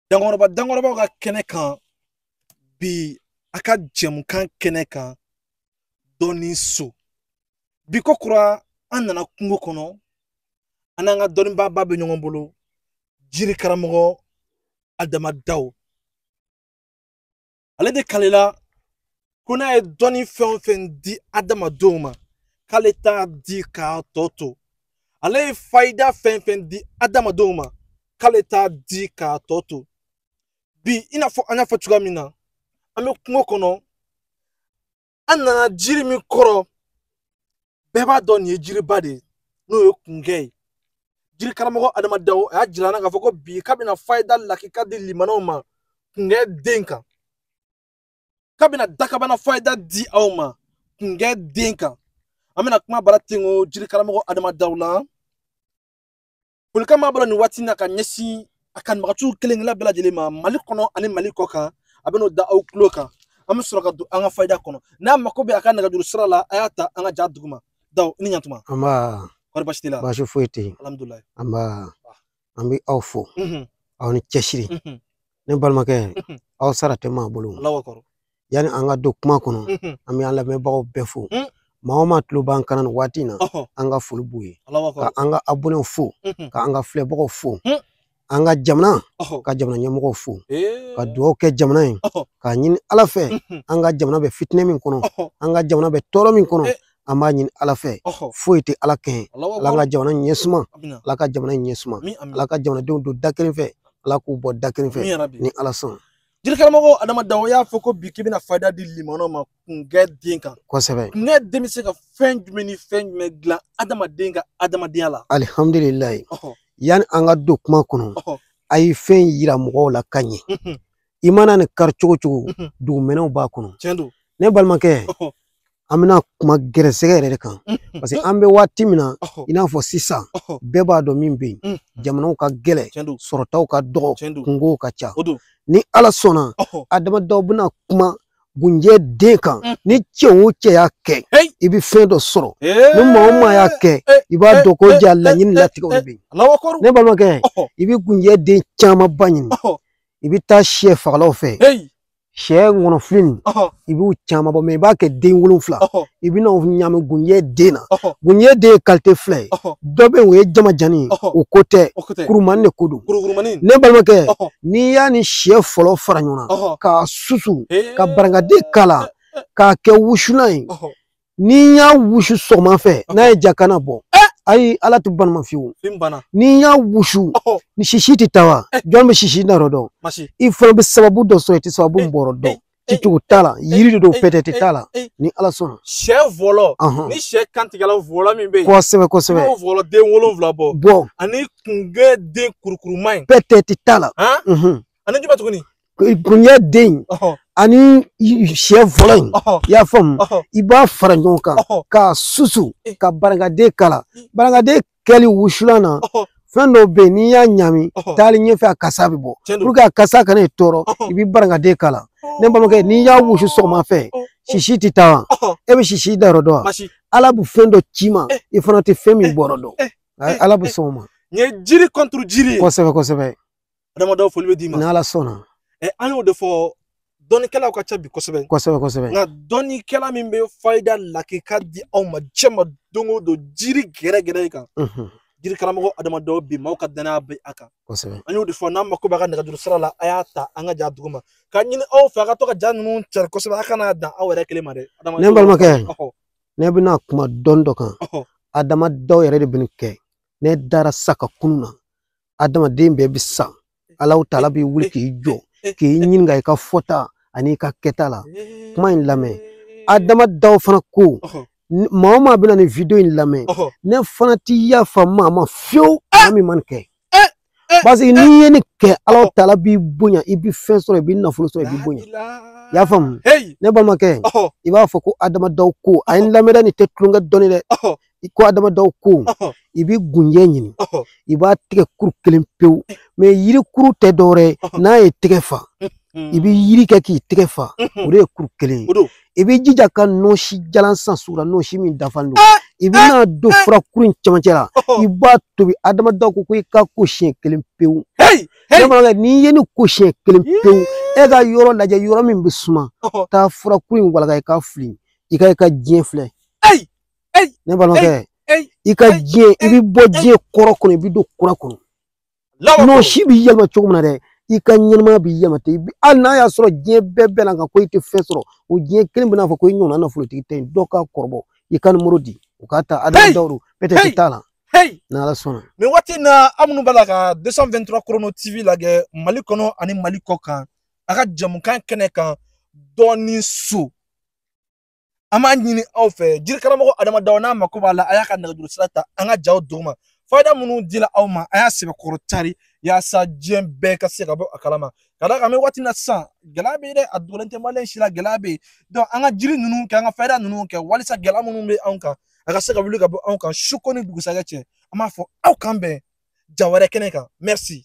dankɔrɔba dankɔrɔbaw ka kɛnɛ kan bi a ka jɛmukan kɛnɛ kan dɔnni so bi ko kura an nana kungo kɔnɔ an n'an ka dɔnnibaaba bɛ ɲɔgɔn bolo jiri karamɔgɔ adama daw ale de kalela ko n'a ye dɔnni fɛn o fɛn di adamadenw ma k'ale t'a di k'a tɔ to ale ye fayida fɛn o fɛn di adamadenw ma k'ale t'a di k'a tɔ to bi i n'a fɔ an y'a fɔ cogoya min na an bɛ kungo kɔnɔ an nana jiri min kɔrɔ bɛɛ b'a dɔn nin ye jiriba de ye n'o ye kungɛ ye jiri karamɔgɔ adama daw y'a jira n na k'a fɔ ko bi k'a bɛna fayida lakika di lamɛnnaw ma kungɛ den kan k'a bɛna dakabana fayida di aw ma kungɛ den kan an bɛna kuma bara ten ko jiri karamɔgɔ adama daw la folikan b'a bolo nin waati in na ka ɲɛsin a kanubaganciw kelen kelenna bɛɛ lajɛlen ma mali kɔnɔ ani mali kɔ kan a bɛn'o da aw tulo kan an bɛ sɔrɔ ka don an ka fayida kɔnɔ n'a mako bɛ a ka nɛgɛjuru sira la a y'a ta an ka ja duguma daw i ni ɲantuma nba kɔri baasi t'i la baasi foyi tɛ yen alhamdulilayi nba an bɛ aw fo aw ni cɛsiri ne balimakɛ aw sara tɛ maa bolo yani an ka don kuma kɔnɔ mhm. an bɛ an lamɛnbagaw bɛɛ fo mhm. maa o maa tulo b'an kan na nin waati in na an ka foli b'u ye ka an ka abonɛw fo ka an ka filɛbagaw fo an ka jamana ka jamana ɲɛmɔgɔw fo ka dugawu kɛ jamana ye k'a ɲini ala fɛ an ka jamana bɛ fitinɛ min kɔnɔ an ka jamana bɛ tɔɔrɔ min kɔnɔ an b'a ɲini ala fɛ foyi tɛ ala kɛɲɛ ala ka jamana ɲɛ suma ala ka jamana ɲɛ suma ala ka jamanadenw don da kelen fɛ ala k'u bɔ da kelen fɛ ni ala sɔn jirikaramɔgɔ adama daw y'a fɔ ko bi k'i bɛna fayida di lamɛnnaw ma kungɛ den kan kosɛbɛ kungɛ den bɛ se ka fɛn jumɛn ni fɛn jumɛn dilan adamaden ka adamadenya la alihamdulilayi yanni an ka don kuma kɔnɔ a ye fɛn yira mɔgɔw la ka ɲɛ i mana nin kari cogo o cogo dugumɛnɛw b'a kɔnɔ ne balimakɛ an bɛna kuma gɛrɛsɛgɛ yɛrɛ de kan parce que an bɛ waati min na i n'a fɔ sisan bɛɛ b'a dɔn min bɛ yen jamanaw ka gɛlɛn sɔrɔtaw ka dɔgɔ kunkow ka ca ni ala sɔnna adama daw bɛna kuma gunjɛ den kan mm. ni cɛ o cɛ y'a kɛ i bɛ fɛn dɔ sɔrɔ ni maa o maa y'a kɛ i b'a dɔn ko ja laɲini latigɛw de bɛ yen ne balimakɛ i bɛ gunjɛ den camanba ɲini i bɛ taa sɛ fagalaw fɛ sɛ ŋɔnɔfili nin ɔhɔ i b'u caman bɔ mɛ i b'a kɛ den wolonfila ɔhɔ i bɛna o ɲami gunjɛ den na ɔhɔ gunjɛ den ye kalite fila ye ɔhɔ dɔ bɛ yen o ye jamanjannin ye ɔhɔ o ko tɛ o ko tɛ kurumanin de ko don kurukurumanin ne balimakɛ ɔhɔ n'i y'a ni sɛ fɔlɔ fara ɲɔgɔn na ɔhɔ k'a susu ee ka barakante k'a la k'a kɛ wusulan ye ɔhɔ ni n y'a wusu sɔgɔma fɛ n'a ye ja kana bɔ ayi ala tɛ ban a ma fiyewu ni n y'a wusu ni sisi tɛ taa wa jɔn bɛ sisi na yɔrɔ dɔn i fana bɛ sababu dɔ sɔrɔ i tɛ sababu min bɔrɔ dɔn cicogo t'a la yiri de don peut-être t'a la ni ala sɔnna sɛ vɔlɔ ni sɛ kan tigɛla vɔlɔ min bɛ yen kosɛbɛ kosɛbɛ n'o vɔlɔ den wolonwula bɔ bɔ ani kunjɛ den kurukuruma in peut-être t'a la ani jumɛn tuguni kunjɛ den ani sɛ fɔlɔ in i y'a faamu i b'a fara ɲɔgɔn kan k'a susu eh. ka barikante k'a la hmm. barikante kɛli wusulan na fɛn dɔw bɛ yen n'i y'a ɲami taali ɲɛfɛ a kasa bɛ bɔ pour que a kasa kana i tɔɔrɔ i bɛ barikante k'a la ne balimakɛ n'i y'a wusu sɔgɔma fɛ sisi tɛ taa wa e bɛ sisi dan yɔrɔ dɔn wa ala bɛ fɛn dɔ ci i ma eh. i fana tɛ fɛn min eh. bɔrɔ dɔn eh. ala bɛ sɔn o ma. nin ye jiri kɔnturu jiri ye. kosɛbɛ kosɛbɛ. adama daw foli bɛ d'i ma n'ala sɔnna ɛ an y'o de fɔ dɔnnikɛlaw ka ca bi kosɛbɛ kosɛbɛ kosɛbɛ nka dɔnnikɛla min bɛ fayida lakika di aw ma diɲɛ ma don o don jiri gɛrɛgɛrɛ kan jiri karamɔgɔ adama daw bi maaw ka danaya bɛ a kan kosɛbɛ an y'o de fɔ n'an mako b'a ka nɛgɛjuru sira la a y'a ta an ka ja dugu ma k'a ɲini aw fɛ a ka to ka ja ninnu cari kosɛbɛ a kana dan aw yɛrɛ kelen ma dɛ ne balimakɛ ne bɛna kuma dɔn dɔ kan adama daw yɛrɛ de bɛ nin kɛ ne dara sa ka kunun na adamaden bɛɛ bɛ sa ala taala bɛ wuli k'i jɔ k'i ɲininka i ka fɔta ani i ka kɛta la kuma in lamɛn adama daw fana ko maa o maa bɛna nin video in lamɛn ne fana ti yafa maa ma fiyewu maa min ma nin kɛ parce que n'i ye nin kɛ ala taala b'i bonya i bɛ fɛn sɔrɔ i bɛ nafolo sɔrɔ i bɛ bonya i y'a faamu ne balimakɛ i b'a fɔ ko adama daw ko a ye n lamɛn dɛ nin tɛ tulonkɛ dɔnni dɛ i ko adama daw ko i bɛ gunjɛ ɲini i b'a tigɛ kuru kelen pewu mais yiri kuru tɛ dɔwɛrɛ ye n'a ye tigɛ fa i bɛ yiri kɛ k'i tigɛ fa o de ye kuru kelen ye i bɛ jija ka nɔsi jalan san sugu la nɔsi min dafan don i bɛn'a don fura kuru in cɛmancɛ la i b'a tobi adama daw ko ko i ka ko siɲɛ kelen pewu ne balimakɛ n'i ye nin ko siɲɛ kelen pewu e ka yɔrɔ lajɛ yɔrɔ min bɛ suma taa fura kuru in walaka i k'a fili i ka i ka diɲɛ filɛ ne balimakɛ i ka diɲɛ i bɛ bɔ diɲɛ kɔrɔ kɔnɔ i bɛ don kura kɔnɔ nɔsi b'i yɛlɛma cogo min na dɛ i ka ɲɛnɛmaya b'i yɛlɛma ten hali n'a y'a sɔrɔ diɲɛ bɛɛ bɛnn'a kan ko i tɛ fɛn sɔrɔ o diɲɛ kelen bɛna fɔ ko i ɲɔgɔnna nafolotigi tɛ yen dɔ k'a kɔrɔbɔ i ka nimoro di u k'a ta adama daw ko peut-être t'a la n'ala sɔnna nin waati in na aw minnu b'a la ka 223 chrono tv lajɛ mali kɔnɔ ani mali kɔkan a ka jamukan kɛnɛ kan dɔnni so an b'a ɲini aw fɛ jiri karamɔgɔ adama daw n'a mako b'a la a y'a ka nɛgɛjuru sira ta an ka jaw duguma fayida minnu dila aw ma a y'a sɛbɛkɔrɔ cari yaasa diɲɛ bɛɛ ka se ka bɔ a kalama ka d'a kan an bɛ waati na sisan gɛlɛya bɛ yen dɛ a dogolen tɛ maa si la gɛlɛya bɛ yen donc an ka jiri ninnu kɛ an ka fayida ninnu kɛ walisa gɛlɛya minnu bɛ anw kan a ka se ka wuli ka bɔ anw kan su ko ni dugusajɛ cɛ an b'a fɔ aw k'an bɛn ja wɛrɛ kɛnɛ kan merci